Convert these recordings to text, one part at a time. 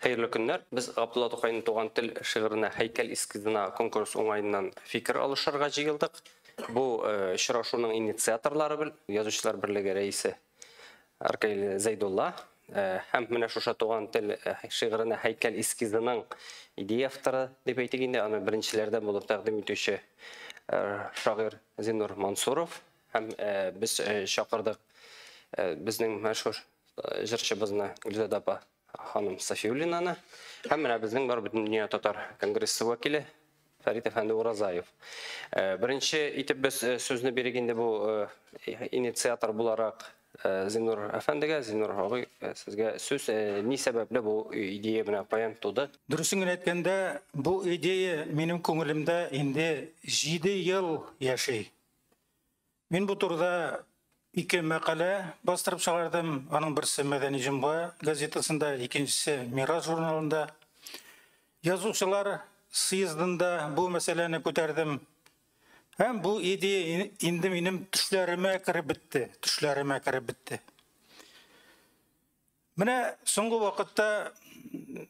Хәерле көннәр! Без Габдулла Тукайның Туган тел шигыренә һәйкәл эскизына конкурс уңаеннан фикер алышырга җыелдык. Бу очрашуның инициаторлары бел, Язучылар берлеге рәисе Аркаил Зәйдулла һәм менә шушы Туган тел шигыренә һәйкәл эскизының идея авторы дип әйтик инде, аны беренчеләрдән булып тәкъдим итүче шагыйрь Зиннур Мансуров һәм без чакырдык безнең мәшһүр җырчыбызны Гөлзада апа ханым Сафиуллинаны һәм менә безнең бар бөтен дөнья татар конгрессы вәкиле Фәрит әфәнде Уразаев. Э, беренче итеп без э, сүзне бирик инде бу э, инициатор буларак Зинур әфәндегә, Зинур агый, сезгә сүз ни сәбәпле бу идея менә каян туды? Дөресен генә әйткәндә, бу идея минем күңелемдә инде 7 ел яши. Мин бу турыда ике мәкалә бастырып чыгардым. Аның берсе Мәдәни җомга газетасында, икенчесе Мирас журналында. Язучылар съездында бу мәсьәләне күтәрдем. Һәм бу идея инде минем төшләремә кереп бетте, төшләремә кереп бетте. Менә соңгы вакытта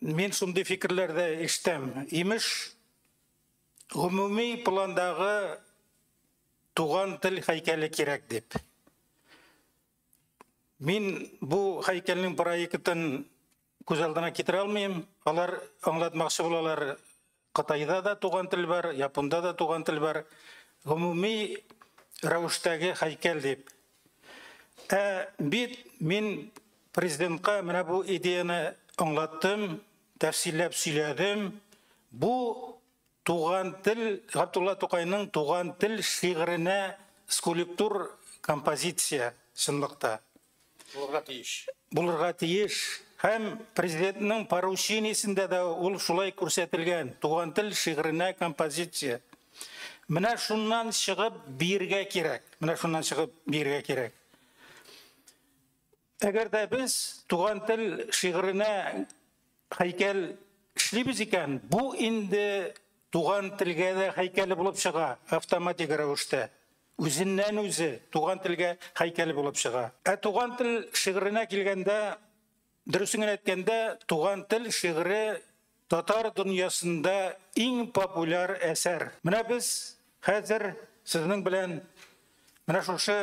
мин шундый фикерләр дә ишетәм. Имеш, гомуми пландагы туган тел һәйкәле кирәк дип. Мин бу һәйкәлнең проектын күз алдына китерә алмыйм. Алар аңлатмакчы булалар Кытайда да туган тел бар, японда да туган тел бар. Гомуми рәвештәге һәйкәл дип. Ә бит мин президентка менә бу идеяны аңлаттым, тәфсилләп сөйләдем. Бу туган тел Габдулла Тукайның туган тел шигыренә скульптур композиция чынлыкта. Булырга тиеш. Булырга тиеш. Һәм президентның поручениесендә дә ул шулай күрсәтелгән. Туган тел шигыренә композиция. Менә шуннан чыгып биргә кирәк. Менә шуннан чыгып биргә кирәк. Әгәр дә без туган тел шигыренә Һәйкәл эшлибез икән, бу инде туган телгә дә һәйкәле булып чыга, автоматик рәвештә. Үзеннән-үзе туган телгә һәйкәле булып чыга. Ә туган тел шигыренә килгәндә, дөресен генә әйткәндә, туган тел шигыре татар дөньясында иң популяр әсәр. Менә без хәзер сезнең белән менә шушы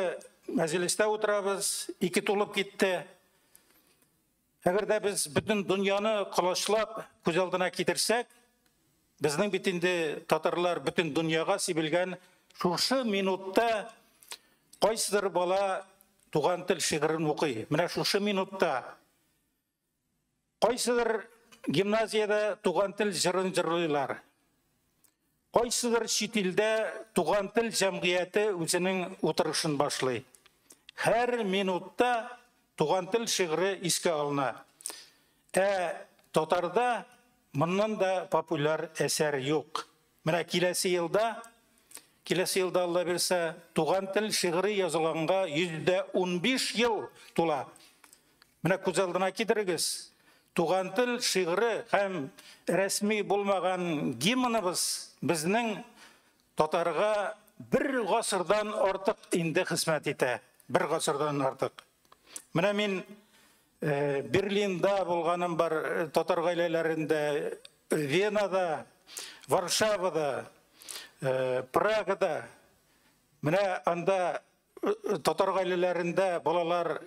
мәҗлестә утырабыз, ике тулып китте. Әгәр дә без бөтен дөньяны колачлап күз алдына китерсәк, безнең бит инде татарлар бөтен дөньяга сибелгән шушы минутта кайсыдыр бала туган тел шигырен укый. Менә шушы минутта кайсыдыр гимназиядә туган тел җырын җырлыйлар. Кайсыдыр чит илдә Туган тел җәмгыяте үзенең утырышын башлый. Һәр минутта Туган тел шигыре искә алына. Ә татарда моннан да популяр әсәр юк. Менә киләсе елда, киләсе елда, Аллабирса, Туган тел шигыре язылганга 115 ел тула. Менә күз алдына китерегез. Туган тел шигыре һәм рәсми булмаган гимныбыз безнең татарга бер гасырдан артык инде хезмәт итә. Бер гасырдан артык. Менә мин э, Берлинда булганым бар, э, татар гаиләләрендә, Венада, Варшавада, э, Прагада. Менә анда татар гаиләләрендә балалар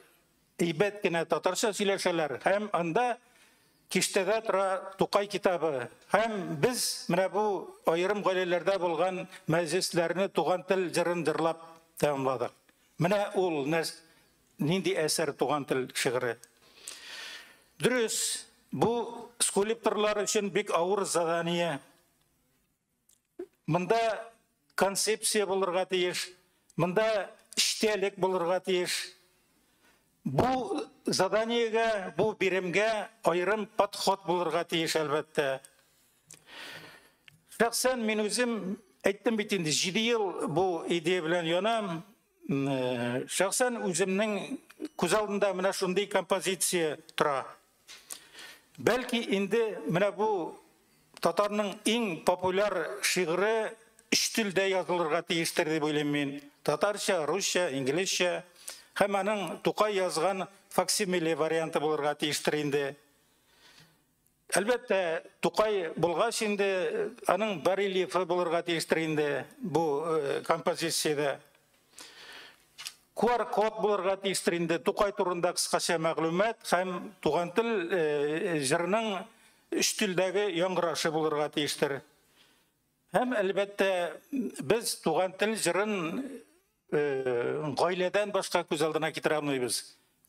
әйбәт кенә татарча сөйләшәләр һәм анда киштәдә тора Тукай китабы. Һәм без менә бу аерым гаиләләрдә булган мәҗлесләрне туган тел җырын җырлап тәмамладык. Менә ул нәрс нинди әсәр туган тел шигыре. Дөрес, бу скульпторлар өчен бик авыр задание. Монда концепция булырга тиеш, монда эчтәлек булырга тиеш. Бу заданиегә, бу биремгә аерым подход булырга тиеш, әлбәттә. Шәхсән мин үзем әйттем бит инде, 7 ел бу идея белән янам. Шәхсән үземнең күз алдында менә шундый композиция тора. Бәлки инде менә бу татарның иң популяр шигыре өч телдә язылырга тиештер дип уйлыйм мин. Татарча, русча, инглизчә һәм аның Тукай язган факсимиле варианты булырга тиештер инде. Әлбәттә, Тукай булгач инде аның барельефы булырга тиештер инде бу э, композициядә. QR-код булырга тиештер инде Тукай турында кыскача мәгълүмат һәм туган тел э, җырының өч телдәге яңгырашы булырга тиештер. Һәм әлбәттә, без туган тел җырын гаиләдән башка күз алдына китерә алмыйбыз.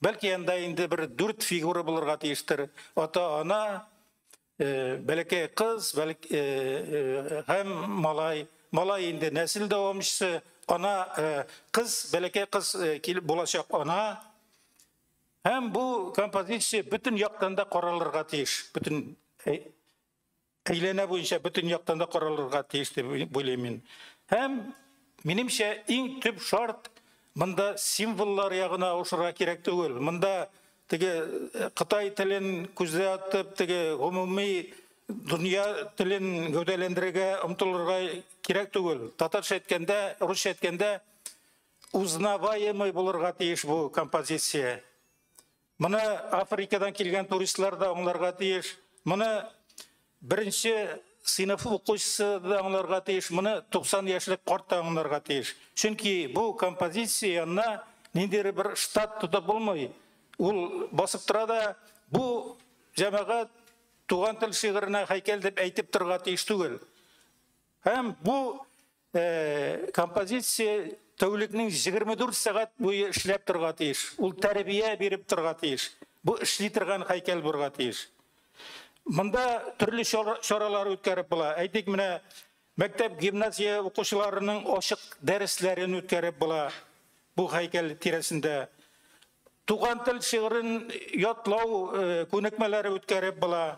Бәлки анда инде бер дүрт фигура булырга тиештер. Ата-ана, бәләкәй кыз, һәм малай. Малай инде нәсел дәвамчысы, ана, кыз, бәләкәй кыз килеп булачак ана. Һәм бу композиция бөтен яктан да каралырга тиеш. Бөтен әйләнә буенча бөтен яктан да каралырга тиеш дип уйлыйм мин. Һәм минемчә иң төп шарт монда символлар ягына авышырга кирәк түгел. Монда теге э, Кытай телен күздә атып, теге гомуми дөнья телен гәүдәләндерергә омтылырга кирәк түгел. Татарча әйткәндә, русча әйткәндә узнаваемый булырга тиеш бу композиция. Моны Африкадан килгән туристлар да аңларга тиеш. Моны беренче сыйныф укучысы да аңларга тиеш, моны 90 яшьлек карт та аңларга тиеш. Чөнки бу композиция янына ниндидер бер штат тотып булмый. Ул басып тора да бу җәмәгать туган тел шигыренә һәйкәл дип әйтеп торырга тиеш түгел. Һәм бу композиция тәүлекнең 24 сәгать буе эшләп торга тиеш. Ул тәрбия биреп торга тиеш. Бу эшли торган һәйкәл булырга тиеш. Монда төрле чаралар үткәреп була. Әйтик, менә мәктәп гимназия укучыларының ачык дәресләрен үткәреп була. Бу һәйкәл тирәсендә туган тел шигырен ятлау күнекмәләре үткәреп була.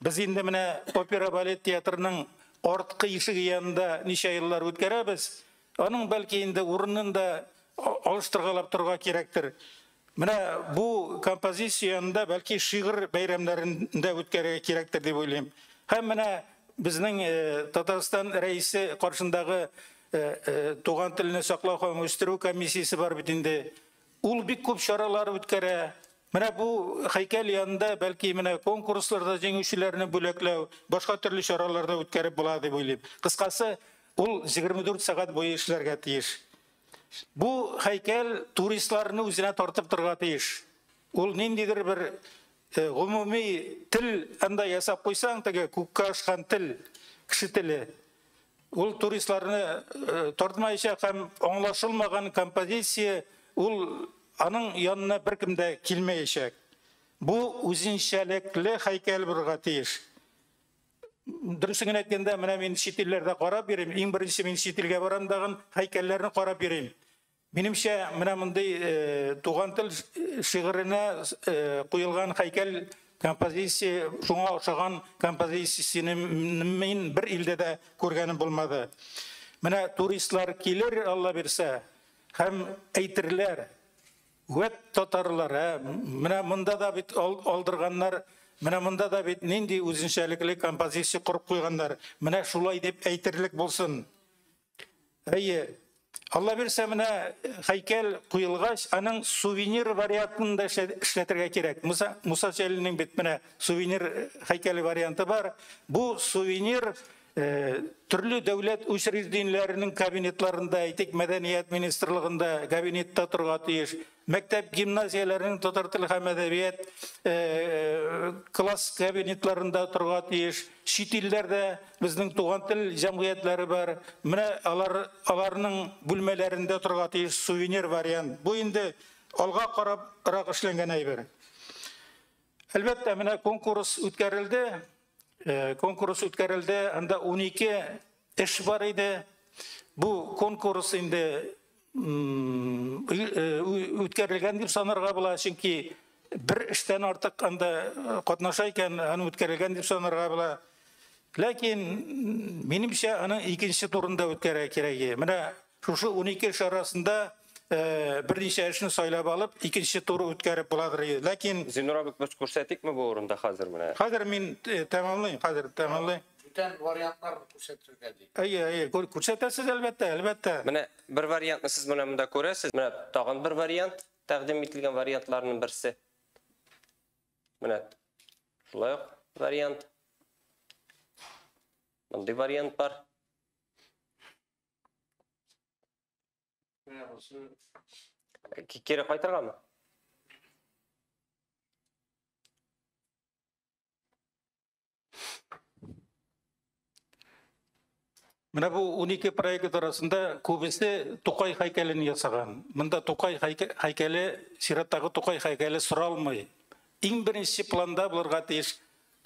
Без инде менә опера-балет театрының арткы ишеге янында ничә еллар үткәрәбез. Аның, бәлки, инде урынын да алыштыргалап торырга кирәктер. Менә бу композиция янында, бәлки, шигырь бәйрәмнәрен дә үткәрергә кирәктер дип уйлыйм. Һәм менә безнең Татарстан Рәисе каршындагы Туган телне саклау һәм үстерү комиссиясе бар бит инде. Ул бик күп чаралар үткәрә. Менә бу һәйкәл янында бәлки менә конкурсларда җиңүчеләрне бүләкләү, башка төрле чараларда үткәреп була дип уйлыйм. Кыскасы, ул 24 сәгать буе эшләргә тиеш. Бу һәйкәл туристларны үзенә тартып торга тиеш. Ул ниндидер бер э, гомуми тел анда ясап куйсаң, теге күккә ашкан тел, кеше теле. Ул туристларны тартмаячак һәм аңлашылмаган композиция, ул аның янына беркем дә килмәячәк. Бу үзенчәлекле һәйкәл булырга тиеш. Дөресен генә әйткәндә, менә мин чит илләрдә карап йөрим, иң беренче мин чит илгә барам дагын һәйкәлләрне карап йөрим. Минемчә, менә мондый Туган тел шигыренә куелган һәйкәл композиция шуңа охшаган композицияне мин бер илдә дә күргәнем булмады. Менә туристлар килер, Алла бирсә, һәм әйтерләр, Вәт татарлар, ә, менә монда да бит алдырганнар, менә монда да бит нинди үзенчәлекле композиция корып куйганнар, менә шулай дип әйтерлек булсын. Әйе, Алла бирсә, менә э, хәйкәл куелгач, аның сувенир вариантын да эшләтергә кирәк. Муса, Муса Җәлилнең бит менә сувенир э, хәйкәле варианты бар. Бу сувенир э, төрле дәүләт учреждениеләренең кабинетларында, әйтик, мәдәният министрлыгында кабинетта торга тиеш. Мәктәп гимназияләренең татар теле һәм әдәбият класс кабинетларында торга тиеш. Чит илләрдә безнең туган тел җәмгыятьләре бар. Менә алар аларның бүлмәләрендә торга тиеш сувенир вариант. Бу инде алга карабрак эшләнгән әйбер. Әлбәттә, менә конкурс үткәрелде. Конкурс үткәрелде, анда 12 Эш бар иде. Бу конкурс инде үткәрелгән дип санарга була, чөнки бер эштән артык анда э, катнаша икән, аны үткәрелгән дип санарга була. Ләкин минемчә аны икенче турында үткәрә кирәге. Менә Шушы унике эш арасында берничә эшне сайлап алып, икенче туры үткәреп буладыр иде. Ләкин Зинур абый без күрсәтикме бу урында хәзер менә? Хәзер мин тәмамлыйм, хәзер тәмамлыйм. Бүтән вариантларны күрсәтергә ди. Әйе, әйе, күрсәтәсез әлбәттә, әлбәттә. Менә бер вариантны сез менә монда күрәсез. Менә тагын бер вариант, тәкъдим ителгән вариантларның берсе. Менә шулай ук вариант. Мондый вариант бар. Кире кайтырга мы? Менә бу 12 проект арасында күбесе Тукай һәйкәлен ясаган. Монда Тукай һәйкәле, сираттагы Тукай һәйкәле соралмый. Иң беренче планда булырга тиеш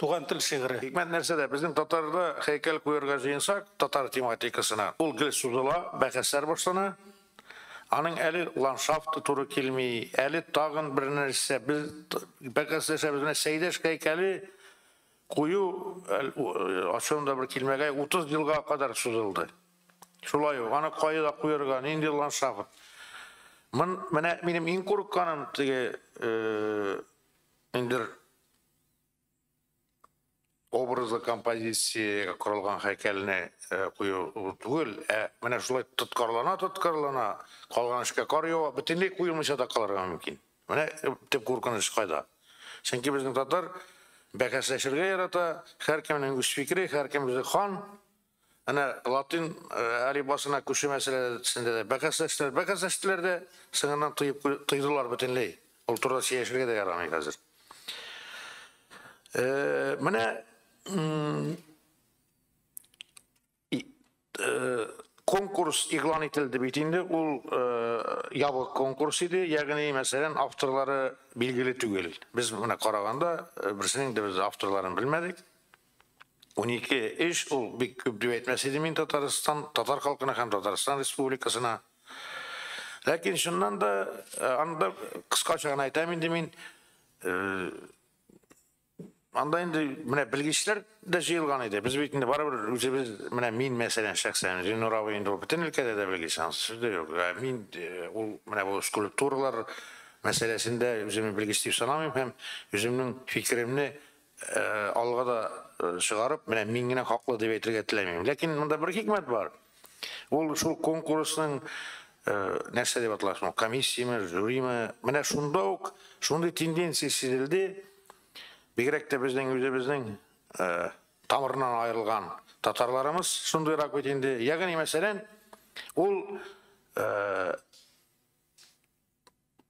Туган тел шигыре. Хикмәт нәрсәдә? Безнең татарда һәйкәл куярга җыенсак, татар тематикасына, ул гел сузыла, бәхәсләр башлана. Аның әле ландшафты туры килми, әле тагын бер нәрсә. Без бәхәсләшәбез. Менә Сәйдәш һәйкәле кую, ачуым да бер килмәгәе, 30 елга кадәр сузылды. Шулай ук, аны кайда куярга, нинди ландшафт? Мон, менә минем иң курыкканым, теге, э, инде образлы композициягә корылган һәйкәлне кую түгел, ә менә шулай тоткарлана-тоткарлана калган эшкә кар ява, бөтенләй куелмыйча да калырга мөмкин. Менә төп куркыныч кайда. Чөнки безнең татар бәхәсләшергә ярата, һәркемнең үз фикере, һәркем үзе хан. Әнә латин әлифбасына күчү мәсьәләсендә дә бәхәсләштеләр, бәхәсләштеләр дә, соңыннан тыеп тыйдылар бөтенләй. Ул турыда сөйләшергә дә ярамый хәзер. Менә конкурс игълан ителде бит инде, ул ябык конкурс иде, ягъни, мәсәлән, авторлары билгеле түгел. Без менә караганда, берсенең дә без авторларын белмәдек. Унике эш ул бик күп дип әйтмәс идем мин Татарстан, татар халкына һәм Татарстан Республикасына. Ләкин чыннан да аны да кыскача гына әйтәм инде мин. Анда инде менә белгечләр дә җыелган иде. Без бит инде барыбер үзебез, менә мин мәсәлән шәхсән, Зиннур абый инде ул бөтен өлкәдә дә белгеч, аны сүз дә юк. Ә мин ул менә бу скульптуралар мәсьәләсендә үземне белгеч дип санамыйм һәм үземнең фикеремне алга да чыгарып, менә мин генә хаклы дип әйтергә теләмим. Ләкин монда бер хикмәт бар. Ул шул конкурсның нәрсә дип атала соң, комиссияме, жюриме? Менә шунда ук шундый тенденция сизелде. Бигрәк тә безнең үзебезнең тамырынан аерылган татарларымыз шундыйрак бит инде. Ягъни мәсәлән, ул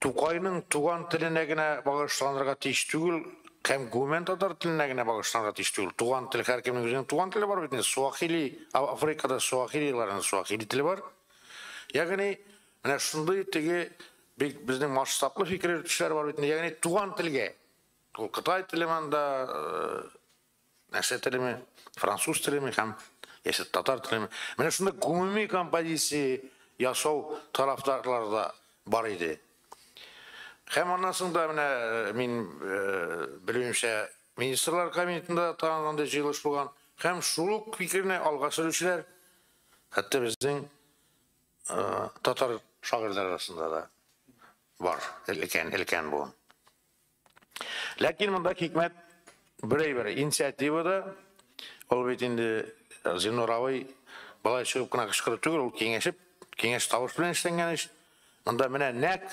Тукайның туган теленә генә багышланырга тиеш түгел, һәм гомумән татар теленә генә багышланырга тиеш түгел. Туган тел, һәркемнең үзенең туган теле бар бит инде. Суахили, Африкада суахилиларның суахили теле бар. Ягъни, менә шундый теге бик безнең масштаблы фикер йөртүчеләр бар бит инде. Ягъни, туган телгә. Ул Кытай теле монда, э, нәрсә телеме, француз телеме һәм яисә татар телеме. Менә шунда гомуми композиция ясау тарафдарлары да бар иде. Һәм аннан соң да менә э, мин э, белүемчә министрлар кабинетында тагын андый җыелыш булган. Һәм шул ук фикерне алга сөрүчеләр хәтта безнең э, татар шагыйрьләр арасында да бар. Өлкән, өлкән буын. Ләкин монда хикмәт бер әйбер, инициатива да, ул бит инде э, Зинур абый былай чыгып кына кычкырып түгел, ул киңәшеп, киңәш тавыш белән эшләнгән эш. Монда менә нәк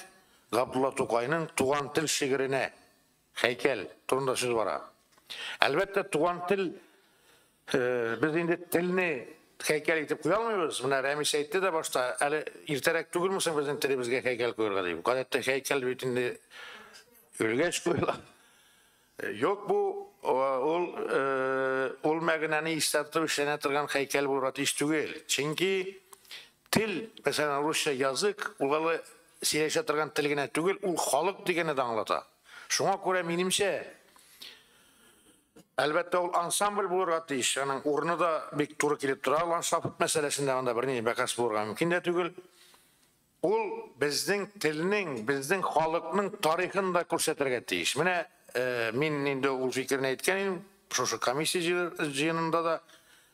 Габдулла Тукайның туган тел шигыренә һәйкәл турында сүз бара. Әлбәттә, туган тел Без инде телне һәйкәл итеп куя алмыйбыз. Менә Рәмис әйтте дә башта, әле иртәрәк түгелме соң безнең телебезгә һәйкәл куярга дип. Гадәттә һәйкәл бит инде өлгәч куела. Юк бу ул ул мәгънәне истәртеп эшләнә торган һәйкәл булырга тиеш түгел. Чөнки тел, мәсәлән, русча язык, ул әле сөйләшә торган тел генә түгел, ул халык дигәнне дә аңлата. Шуңа күрә минемчә Әлбәттә, ул ансамбль булырга тиеш. Аның урыны да бик туры килеп тора. Ландшафт мәсьәләсендә анда берни бәхәс булырга мөмкин дә түгел. Ул безнең телнең, безнең халыкның тарихын да күрсәтергә тиеш. Менә мин инде ул фикерне әйткән идем, шушы комиссия җыенында да.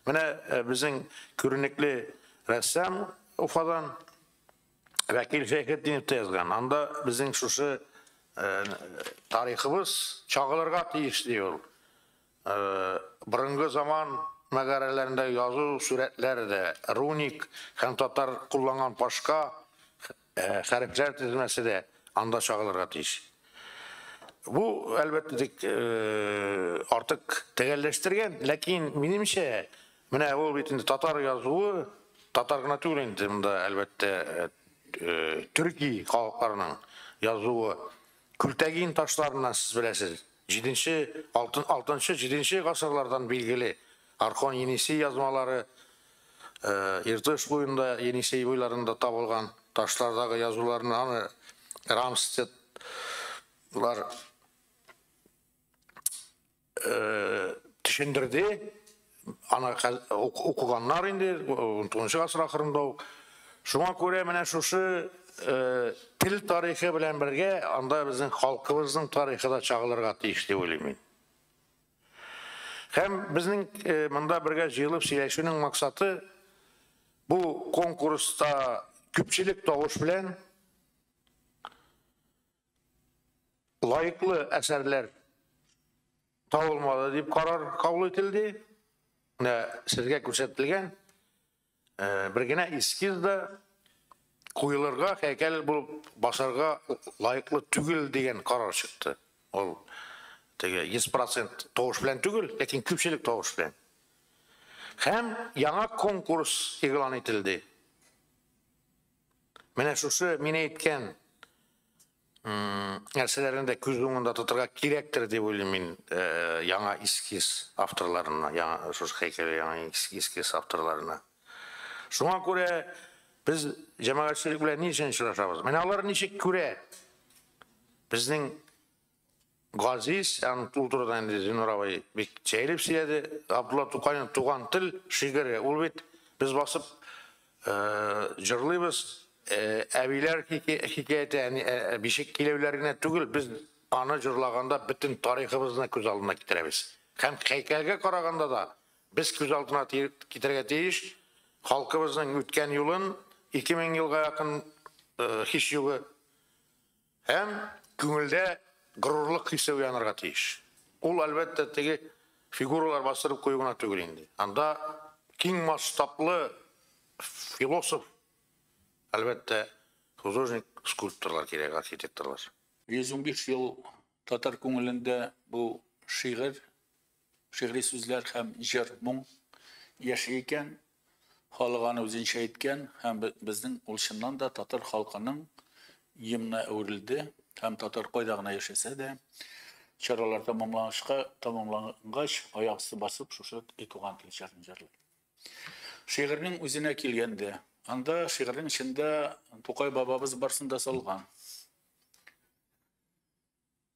Менә безнең күренекле рәссам Уфадан. Вәкил Шәйхетдинов та язган. Анда безнең шушы э, тарихыбыз чагылырга тиеш ди ул. Э, борынгы заман мәгарәләрендә язу сурәтләр дә руник һәм татар кулланган башка э, хәрефләр тезмәсе дә анда чагылырга тиеш. Бу, әлбәттә, тик э, артык тәгәлләштергән, ләкин минемчә, Менә ул бит инде татар язуы, татар гына түгел инде монда әлбәттә төрки халыкларының язуы. Күлтәгин ташларыннан сез беләсез. 7-нче, 6-нчы, 7-нче гасырлардан билгеле Архон Енисей язмалары Иртыш буенда, Енисей буйларында табылган ташлардагы язуларны аны Рамстедлар төшендерде. Аны укыганнар инде 19 гасыр ахырында ук. Шуңа күрә менә шушы тел тарихы белән бергә анда безнең халкыбызның тарихы да чагылырга тиеш дип уйлыйм мин. Һәм безнең монда бергә җыелып сөйләшүнең максаты бу конкурста күпчелек тавыш белән лаеклы әсәрләр табылмады дип карар кабул ителде. Менә сезгә күрсәтелгән э, бер генә эскиз да куелырга, һәйкәл булып басарга лаеклы түгел дигән карар чыкты. Ул теге 100% тавыш белән түгел, ләкин күпчелек тавыш белән. Һәм яңа конкурс игълан ителде. Менә шушы мин әйткән нәрсәләрне дә күз уңында тотырга кирәктер дип уйлыйм мин э, яңа эскиз авторларына, яңа шушы һәйкәле яңа эскиз авторларына. Шуңа күрә без җәмәгатьчелек белән ни өчен очрашабыз? Менә алар ничек күрә безнең Газиз һәм ул турыда инде Зиннур абый бик җәелеп сөйләде. Габдулла Тукайның Туган тел шигыре, ул бит без басып җырлыйбыз, әбиләр хикәяте, бишек киләүләр генә түгел, без аны җырлаганда бөтен тарихыбызны күз алдына китерәбез. Һәм һәйкәлгә караганда да без күз алдына китерергә тиеш халкыбызның үткән юлын, ике мең елга якын һичьюгы. Һәм күңелдә горурлык хисе уянырга тиеш. Ул, әлбәттә, теге фигуралар бастырып кую гына түгел инде. Анда киң масштаблы философ, әлбәттә, художник, скульпторлар кирәк, архитекторлар. 115 ел татар күңелендә бу шигырь. Шигъри сүзләр һәм җыр, моң яши икән. Халык аны үзенчә әйткән һәм безнең ул чыннан да татар халкының гимнына әверелде һәм татар кайда гына яшәсә дә, чаралар тәмамланышка, тәмамлангач, аяк өсте басып, шушы и туган тел җырын җырлый. Шигырьнең үзенә килгәндә, анда шигырьнең эчендә Тукай бабабыз барсын да салган.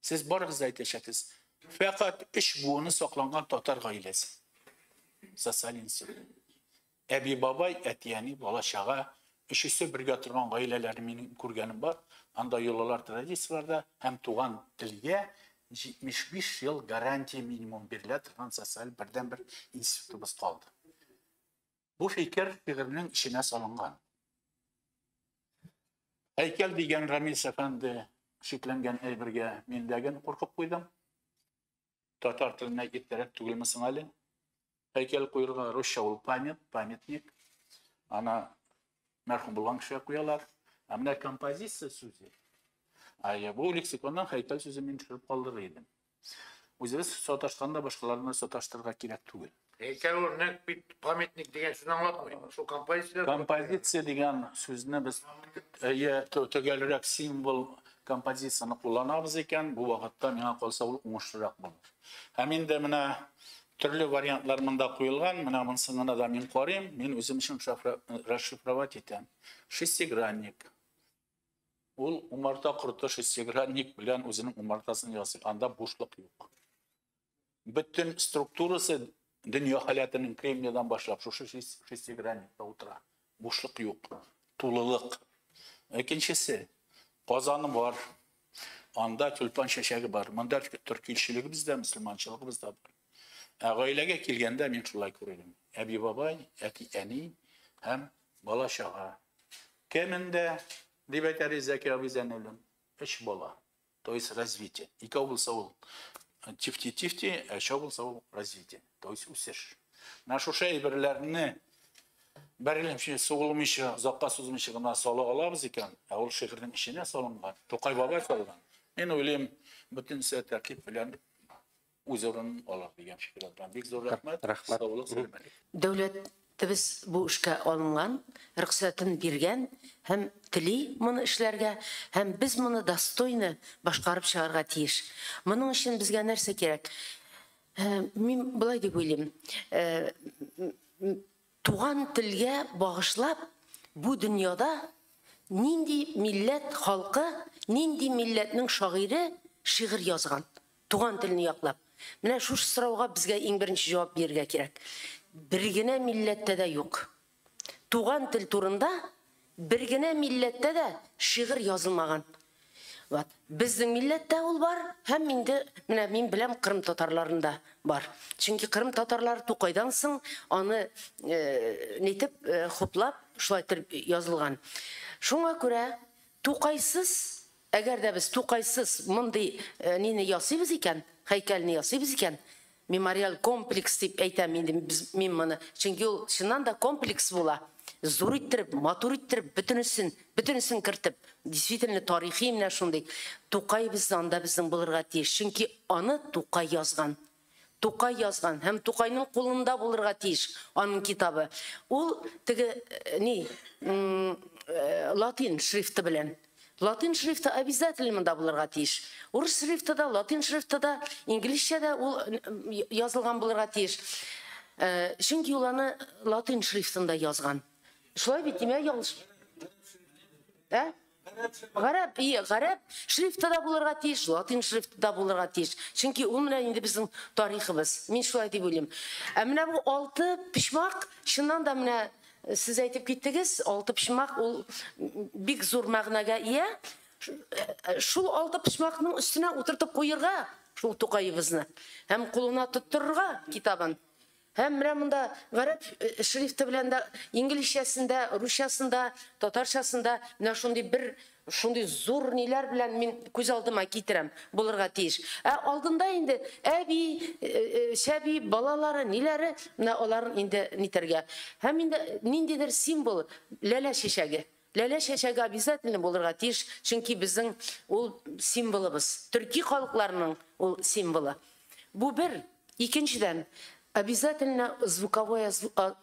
Сез барыгыз да әйтәчәксез. Фәкать өч буыны сакланган татар гаиләсе. Социаль институт. Әби бабай, әти әни, бала чага, өчесе бергә торган гаиләләр мин күргәнем бар. Анда йолалар традицияләрдә һәм туган телгә 75 ел гарантия минимум бирелә торган социаль бердәнбер институтыбыз калды. Бу фикер шигырьнең эченә салынган. Һәйкәл дигән Рамис әфәнде шикләнгән әйбергә миндәген куркып куйдым. Татар теленә иртәрәк түгелме соң әле? Һәйкәл куерга русча ул памят, памятник. Ана мәрхүм булган кешегә куялар. Ә менә композиция сүзе. Ә бу лексиконнан һәйкәл сүзен мин төшереп калдырыр идем. Үзебез саташканда башкаларны да саташтырырга кирәк түгел. Һәйкәл ул нәкъ бит памятник дигән сүзне аңлатмый. Шул композиция. Композиция дигән сүзне без әйе төгәлрәк символ композицияне кулланабыз икән, бу вакытта миңа калса ул уңышлырак булыр. Һәм инде менә төрле вариантлар монда куелган, менә монсына да мин карыйм, мин үзем өчен расшифровать итәм. Шестигранник. Ул умарта корты шессигра ник белән үзенең умартасын ясый, анда бушлык юк. Бөтен структурасы дөнья халәтенең кремниядан башлап шушы шессигранникта утыра. Бушлык юк, тулылык. Икенчесе, казаны бар, анда тюльпан чәчәге бар. Монда төркилчелегебез дә, мөселманчылыгыбыз да бар. Ә гаиләгә килгәндә мин шулай күрдем. Әби-бабай, әти-әни һәм бала-чага. Кәмендә, дип әйтә Ризәки абый Зәйнуллин, өч бала. То есть развитие. Икәү булса ул тифти-тифти, ә өчәү булса ул развитие. То есть үсеш. Менә шушы әйберләрне бәрелемче сугылмыйча, озакка сузмыйча гына сала алабыз икән, ә ул шигырьнең эченә салынган, Тукай бабай салган. Мин уйлыйм, бөтенесе тәртип белән үз урынын ала дигән фикерләр белән бик зур рәхмәт. Рәхмәт. Саулык, сәламәтлек. Дәүләтебез бу эшкә алынган, рөхсәтен биргән һәм тели моны эшләргә, һәм без моны достойно башкарып чыгарга тиеш. Моның өчен безгә нәрсә кирәк? Мин болай дип уйлыйм, Туган телгә багышлап бу дөньяда нинди милләт халкы, нинди милләтнең шагыйре шигырь язган, туган телне яклап? Менә шушы сорауга безгә иң беренче җавап бирергә кирәк. Бер генә милләттә дә юк. Туган тел турында Бер генә милләттә дә шигырь язылмаган. Вот. Безнең милләттә ул бар һәм инде менә мин беләм кырым татарларында бар. Чөнки кырым татарлары Тукайдан соң аны нитеп, хуплап, шулай итеп язылган. Шуңа күрә Тукайсыз Әгәр дә без Тукайсыз мондый нине ясыйбыз икән, һәйкәлне ясыйбыз икән, мемориаль комплекс дип әйтәм инде мин моны, чөнки ул чыннан да комплекс була, зур иттереп, матур иттереп, бөтенесен, бөтенесен кертеп, действительно тарихи менә шундый Тукайыбыздан да безнең булырга тиеш, чөнки аны Тукай язган, Тукай язган һәм Тукайның кулында булырга тиеш аның китабы. Ул теге ни, латин шрифты белән. Латин шрифты обязательно монда булырга тиеш. Урыс шрифты да, латин шрифты да, инглизчә дә ул язылган булырга тиеш. Чөнки ул аны латин шрифтында язган. Шулай бит, димә ялгыш. Ә? Гарәп, и, гарәп шрифты да булырга тиеш, латин шрифты да булырга тиеш. Чөнки ул менә инде безнең тарихыбыз. Мин шулай дип уйлыйм. Ә менә бу алты почмак, чыннан да менә э, сез әйтеп киттегез, алты почмак ул бик зур мәгънәгә ия. Э, шул алты почмакның өстенә утыртып куерга шул Тукаебызны һәм кулына тоттырырга китабын. Һәм менә монда гарәп шрифты белән дә, инглизчәсен дә, русчасын да, татарчасын да менә шундый бер шундый зур ниләр белән мин күз алдыма китерәм, булырга тиеш. Ә алдында инде әби, чәби, балалары, ниләре, менә аларын инде нитәргә. Һәм инде ниндидер символ, ләлә чәчәге. Ләлә чәчәге обязательно булырга тиеш, чөнки безнең ул символыбыз, төрки халыкларының ул символы. Бу бер. Икенчедән, обязательно звуковое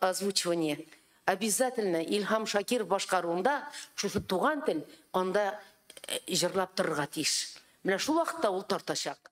озвучивание. Обязательно Илһам Шакиров башкаруында шушы туган тел анда җырлап торырга тиеш. Менә шул вакытта ул тартачак.